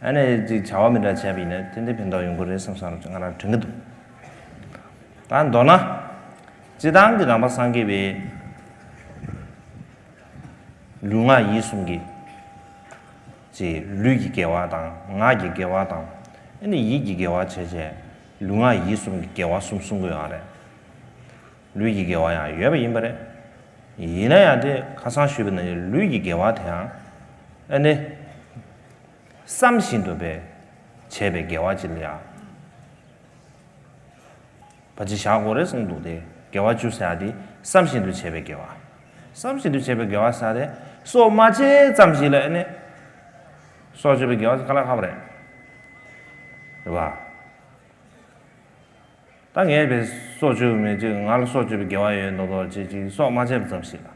ཨ་ནེ་ཅིག་བྱ་བ་མི་འདྲ་བྱས་པ་ཡིན་ན་ཏན་ཏན་ཕན་ཐོགས་ཡོང་གི་རེད་བསམ་བསམ་ང་རང་དྲན་གྱི་འདུག་ད་མདོར་ན། སྤྱི་བཏང་གི་རང་པ་སངས་རྒྱས་པའི་ལུས་ངག་ཡིད་གསུམ་གྱི། ཅེས་ལུས་ཀྱི་དགེ་བ་དང་ངག་གི་དགེ་བ་དང་ཨ་ནེ་ཡིད་ཀྱི་དགེ་བ་བྱས་བྱས་ལུས་ངག་ཡིད་གསུམ་གྱི་དགེ་བ་གསུམ་གསུང་གི་ཡོད་རེད། ལུས་ཀྱི་དགེ་བ་ཡང་ཡོད་པ་ཡིན་པ་རེད། ཡིན་ན་ཡང་དེ་ཁ་སང་ཞུས་པ་ནི་ལུས་ཀྱི་དགེ་བ་དེའང་ཨ་ནི། བསམ་བཞིན་དུ་བས་བྱས་པའི་དགེ་བ་གྱི་ལས་ཨ། བ་ཅི་བཞག་གོ་རེ་གསུངས་འདུག་དེ་དགེ་བ་བཅུ་ཟེར་དེ་བསམ་བཞིན་དུ་བྱས་པའི་དགེ་བ། བསམ་བཞིན་དུ་བྱས་པའི་དགེ་བ་ཟེར་དེ་སོགས་མ་བྱས་ཙམ་ཞིག་ལ་ཨ་ནི། སོགས་བྱས་པའི་དགེ་བ་ཟེར་ག་ལ་ཧ་བ་རེད། རེད་བ། ད་ངས་བས་སྲོག་གཅོད་མེད་ཅིག་ང་ལ་སྲོག་གཅོད་པའི་དགེ་བ་ཡོད་མདོག་མདོག་བྱེད་ཅིག་སྲོག་མ་བཅད་པ་ཙམ་ཞིག་ལ།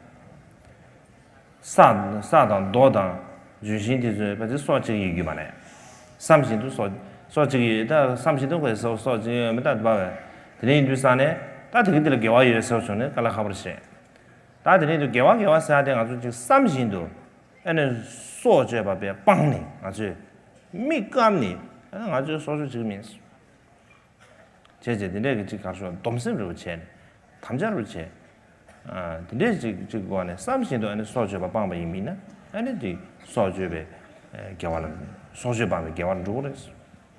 ས་དང་རྡོ་དང་ལྗོན་ཤིང་དེ་ཚོས་ཕལ་ཆེར་སྲོག་གཅིག་ཡོད་རྒྱུ་མ་རེད་བསམ་བཞིན་དུ་སྲོག་སྲོག་གཅིག་ཡོད་ད་བསམ་བཞིན་དུ་ཁོས་སྲོག་སྲོག་གཅིག་ཡོད་མི་ད་དེ་པར་དེ་རིང་འདུས་ས་ནས་ད་དེ་གི་དེ་ལ་དགེ་བ་ཡོད་ཟེར་བྱུང་ནས་ཀ་ལ་ཧ་པར་བྱེད། ད་དེ་རིང་དུ་དགེ་བ་དགེ་བ་ཟེར་ཏེ་ང་ཚོ་ཅིག་བསམ་བཞིན་དུ་ཨེ་ནས་སྲོག་གཅོད་པ་པས་སྤངས་ནས་ང་ཚོས་མིག་བཀབ་ནས་ད་ང་ཚོས་སྲོག་གཅོད་ཅིག་མིན། བྱས་བྱས་དེ་འདྲས་ཀྱི་ཅིག་གར་ཤོག་སྡོམ་སེམས་རེ་བ་བྱས་ནས་དམ་བཅའ་རུ་བྱས། དེ་འདྲས་ཅིག་ཅིག་གི་འོག་ནས་བསམ་བཞིན་དུ་ཨ་ནི་སྲོག་གཅོད་པ་སྤངས་པ་ཡིན་མིན་ན་ཨ་ནི་དེ་སྲོག་གཅོད་པའི་དགེ་བ་ལ་སྲོག་གཅོད་སྤངས་པའི་དགེ་བར་འགྲོ་གི་རེད།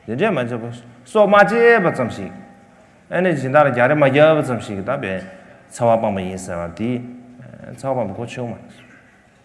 དེ་འདྲས་མ་བྱས་པར་སྲོག་མ་བཅད་པ་ཙམ་ཞིག་ཨ་ནི་སྦྱིན་བདག་ལ་རྒྱག་རེ་མ་རྒྱག་པ་ཙམ་ཞིག་གིས་ད་བས་འཚེ་བ་སྤངས་པ་ཡིན་ཟེར་བ་དེ་འཚེ་བ་སྤངས་པའི་གོ་ཆོད་མ་རེད།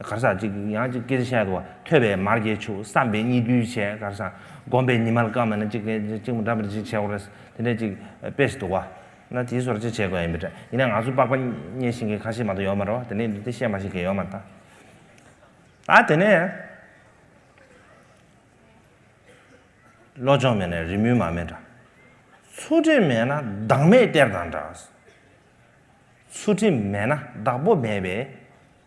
གར་སར་ཅིག་ཡང་ཅིག་ཀིར་ཤད་དུ་བ་ཐོད་པའི་མར་གྱིས་བྱུག་བསམ་པས་གཉིས་བསྡུས་བྱས་གར་སར་བསྒོམས་པས་ཉི་མ་ལ་ཀ་མ་ན་ཅིག་གིས་ཅིག་ཅིག་མོ་འདྲ་པར་ཅིག་བྱས་བོར་རེས་དེ་འདྲས་ཅིག་དཔེ་ཞིག་འདུག་བ། ན་དེའི་སོར་ཅིག་བྱས་དགོས་ཡིན་པས་འདྲ་ཡིན་ན་ང་ཚོ་པགས་པ་རྙེད་ཤིང་གི་ཁ་ཤེས་མ་ཏོག་ཡོད་མ་རེད་བ་དེ་ནས་འདི་དེ་ཤེས་མ་ཤེས་ཀྱི་ཡོད་མ་ཏག་ད་དེ་ནས་བློ་སྦྱོང་མེད་ན་རི་མོའི་མ་མེད་འདྲ་ཚུལ་ཁྲིམས་མེད་ན་བདག་མེད་གཏེར་དང་འདྲ། ཚུལ་ཁྲིམས་མེད་ན་བདག་པོ་མེད་པས་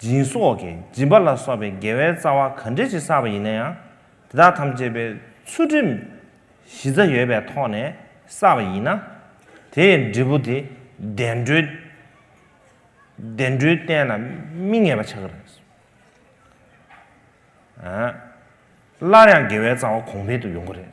སྦྱིན་སོགས་ཀྱི་སྦྱིན་པ་ལ་སོགས་པའི་དགེ་བའི་རྩ་བ་ག་འདྲས་ཀྱིས་བསགས་པ་ཡིན་ན་ཡང་དེ་དག་ཐམས་ཅད་པའི་ཚུལ་ཁྲིམས་གཞི་རྩ་ཡོད་པའི་ཐོག་ནས་བསགས་པ་ཡིན་ན། དེའི་འབྲས་བུ་དེ་བདེ་འགྲོའི་སྟན་ལ་སྨིན་ངེས་པ་ཆགས་ཀྱི་རེད། སླར་ཡང་དགེ་བའི་རྩ་བ་གོང་འཕེལ་དུ་ཡོང་གི་རེད།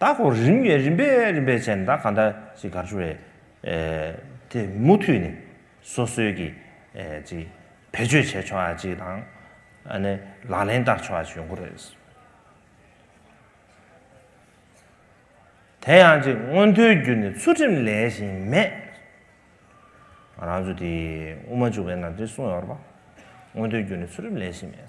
ད་ཁོ་རིམ་བས་རིམ་པས་རིམ་པས་བྱས་ནས་ད་ག་འདྲ་ཅིག་གར་བྱུང་བས། དེ་མུ་མཐུད་ནས་སོ་སོའི་གི་ཅིག་བེད་སྤྱོད་བྱས་ཆོག་ཅིག་དང། ཨ་ནི་ལག་ལེན་བསྟར་ཆོག་ཅིག་ཡོང་གི་རེད། དེ་ཡང་ཅིག་སྔོན་ཐོའི་རྒྱུ་ནས་ཚུལ་ཁྲིམས་ལས་བཞིན་མེད། ང་རང་ཚོ་དེ་དབུ་མ་འཇུག་པའི་ནང་དེ་གསུངས་ཡོད་རེད་པ། སྔོན་ཐོའི་རྒྱུ་ནས་ཚུལ་ཁྲིམས་ལས་བཞིན་མེད།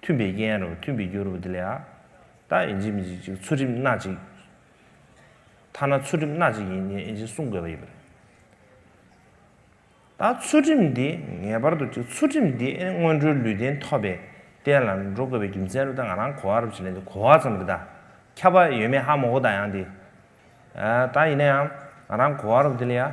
མཐུན་པའི་དབྱེ་ཡན་རོ་མཐུན་པའི་རྒྱུ་རུ་བ་དེ་ལས་ཨ། ད་ཨེ་འཇིག་མི་འཇིག་ཅིག་ཚུལ་ཁྲིམས་སྣ་གཅིག། ཐ་ན་ཚུལ་ཁྲིམས་སྣ་གཅིག་ཡིན་ནི་ཨེ་འཇིག་གསུང་དགོས་པ་ཡིན་པ་རེད། ད་ཚུལ་ཁྲིམས་འདི་ངེས་པར་དུ་ཅིག་ཚུལ་ཁྲིམས་འདི་ཨེ་སྔོན་འགྲོའི་ལུས་རྟེན་ཐོབ་པའི་རྟེན་ལ་འགྲོ་དགོས་པའི་རྒྱུ་མཚན་རུ་ད་ང་རང་གོ་བ་རུ་བྱེད་ལེན་དུ་གོ་བ་ཙམ་རེ་ད་ཁྱབ་པ་ཡོད་མེད་ཧ་མོ་གོ་ད་ཡང་དེ་ཨ། ད་ཡིན་ན་ཡང་ང་རང་གོ་བ་རུ་བ་དེ་ལས་ཨ།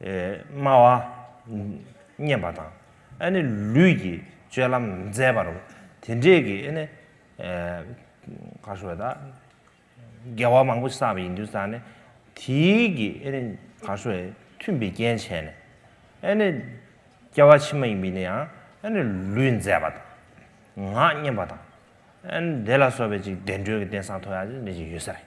སྨྲ་བ། བསྙེན་པ་དང། ཨ་ནི་ལུས་ཀྱི་སྤྱོད་ལམ་མཛད་པར་རོ། དེ་འདྲས་ཀྱི་ཨ་ནི། ག་ཧྲུ་བ་དག། དགེ་བ་མང་པོ་བསགས་པ་ཡིན་དུས་སམ་ནི། དེའི་ཀྱི་ཨ་ནི་ག་ཧྲུ་བའི་མཐུན་པའི་རྐྱེན་བྱས་ནས། ཨ་ནི། སྐྱེ་བ་ཕྱི་མ་ཡིན་པས་ནི་ཡང་ཨ་ནི་ལུས་མཛད་པ་དང། ངག་བསྙེན་པ་དང། ཨ་ནི་དེ་ལ་སོགས་པའི་ཅིག་བདེ་འགྲོའི་གི་རྟེན་སངས་མཐོ་ཡང་ཅིག་འདི་ཅིག་ཡོད་ས་རེད།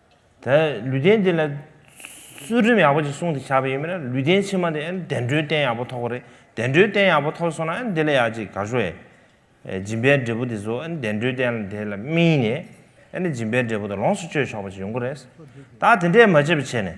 ད་ལུས་རྟེན་འདི་ལ་ཚུལ་ཁྲིམས་ཡག་པོ་ཅིག་སྲུང་དེ་བྱ་བ་ཡིན་པས་ན་ལུས་རྟེན་ཕྱི་མ་དེ་ཨེ་བདེ་འགྲོའི་རྟེན་ཡག་པོ་ཐོགས་པ་རེད་བདེ་འགྲོའི་རྟེན་ཡག་པོ་ཐོགས་སོང་ན་ཨེ་འདི་ལ་ཡག་ཅིག་ག་ཞོ་ཨེ། སྦྱིན་པའི་འབྲས་བུ་དེ་ཚོ་ཨེ་བདེ་འགྲོའི་རྟེན་དེ་ལ་སྨིན་ནས་ཨེ་སྦྱིན་པའི་འབྲས་བུ་དེ་ལོངས་སུ་སྤྱོད་ཆོག་པ་ཅིག་ཡོང་གི་རེད། ད་དེ་འདྲས་མ་བྱས་པ་བྱས་ནས།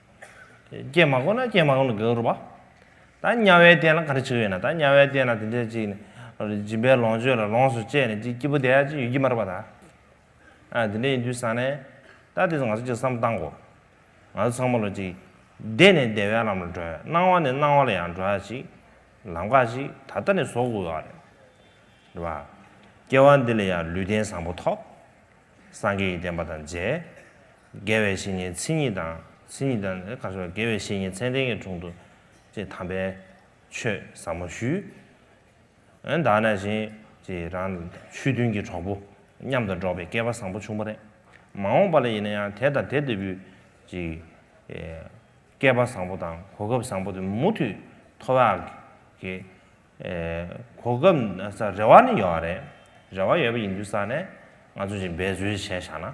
ཀྱེ་མ་དགོངས་ན་ཀྱེ་མ་དགོངས་ནས་དགེ་བར་བ། ད་དམྱལ་བའི་སྟན་ལ་ག་རེ་བྱེད་ཀྱི་ཡོད་ན་ད་དམྱལ་བའི་སྟན་ལ་དེ་འདྲའི་ཅིག་ནི། སྦྱིན་པའི་ལོངས་སྤྱོད་ལ་ལོངས་སུ་སྤྱད་ནས་ཅིག་སྐྱིད་པོ་བསྡད་ཡ་ཅིག་ཡོད་ཀྱི་མ་རེད་པ་ད། ཨ་དེ་འདྲ་ཡིན་དུས་བཟང་ནས། ད་དེ་ཚོ་ང་ཚོ་ཅིག་བསམ་བཏང་གོ། ང་ཚོ་ཚང་མ་ལོ་ཅིག། བདེ་ནས་བདེ་བའི་ལམ་ལ་འགྲོ་ཡ་སྣང་བ་ནས་སྣང་བ་ལ་ཡང་འགྲོ་ཡ་ཅིག། ལམ་ཁ་ཅིག་ད་ལྟ་ནས་བཟོ་དགོས་ཀྱི་རེད། རེད་བ། སྐྱེ་བ་འདི་ལ་ཡང་ལུས་རྟེན་བཟང་པོ་ཐོབ། སངས་རྒྱས་ཀྱི་བསྟན་པ་དང་མཇལ། དགེ་བའི་བཤེས་གཉེན་ཚིག་གཉིས་དང། ཚིག་གཉིས་དང་ནི་ག་ཞུ་བ་དགེ་བའི་བཤེས་གཉེན་མཚན་ལྡན་གྱི་དྲུང་དུ། ཅེས་དམ་པའི་ཆོས་ཟབ་མོ་ཞུས། ཨན་དག་ན་བཞིན་ཅེས་རང་ཆོས་མཐུན་གྱི་གྲོགས་པོ་མཉམ་དུ་འགྲོགས་པའི་སྐལ་བ་བཟང་པོ་བྱུང་བ་རེད། མ་འོངས་པ་ལ་ཡིན་ན་ཡང་དེ་དང་དེ་ལྟ་བུའི་ཅིག་སྐལ་པ་བཟང་པོ་དང་གོ་སྐབས་བཟང་པོ་དེ་མུ་མཐུད་ཐོབ་ཡག་གི། གོ་སྐབས་རེ་བ་ནི་ཡོད་རེད། རེ་བ་ཡོད་པ་ཡིན་དུས་ས་ནས་ང་ཚོས་ཅིག་འབད་རྩོལ་བྱས་བཞག་ན།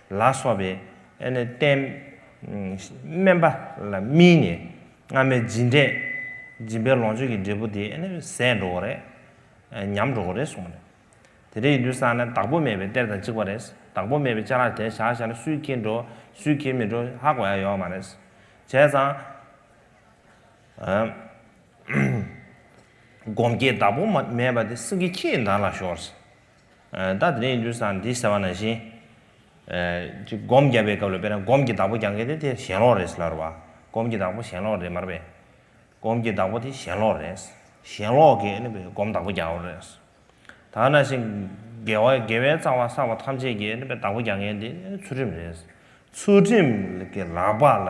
ལ་སོགས་པས་བསྟན། དམན་པ་ལ་སྨིན་ནས་སྔ་མའི་སྦྱིན། སྦྱིན་པའི་ལོངས་སྤྱོད་ཀྱི་འབྲས་བུ་དེ་ཟད་འགྲོ་བ་རེད། ཉམས་འགྲོ་བ་རེད་གསུངས་པ་རེད། དེ་འདྲའི་ཡིན་དུས་སང་ན་བདག་པོ་མེད་པའི་གཏེར་དང་གཅིག་པ་རེད། བདག་པོ་མེད་པའི་ལྕགས་ལ་དེ་བཞག་བཞག་ན་སུས་འཁྱེར་འགྲོ་སུས་འཁྱེར་མི་འགྲོ་ཧ་གོ་ཡ་ཡོད་མ་རེད། བྱས་ཙང། སྒོམ་སྐྱེས་བདག་པོ་མེད་པ་དེ་སེང་གེ་ཁྱེད་ཡིན་ད་ལ་ཤོར། བདག་དེ་ནས་ཡིན་དུས་སང་འདི་ཟེར་བ་ན་བཞིན། ཅིག་སྒོམ་བརྒྱབ་པའི་སྐབས་ལ་དཔེར་ན་སྒོམ་གྱི་བདག་པོ་རྒྱང་གིན་དེ་དེ་གཞན་ལོག་རེད་ལར་བ། སྒོམ་གྱི་བདག་པོ་གཞན་ལོག་རེད་མར་བས། སྒོམ་གྱི་བདག་པོ་དེ་གཞན་ལོག་རེད། གཞན་ལོག་གི་ནི་བས་སྒོམ་བདག་པོ་རྒྱང་བ་རེད། དག་ན་བཞིན། དགེ་བ་དགེ་བའི་རྩ་བ་བསགས་པ་ཐམས་ཅད་ཀྱི་ནི་བས་བདག་པོ་རྒྱང་གིན་དེ་ཚུལ་ཁྲིམས་རེད། ཚུལ་ཁྲིམས་ཀྱི་ལག་པ་ལ།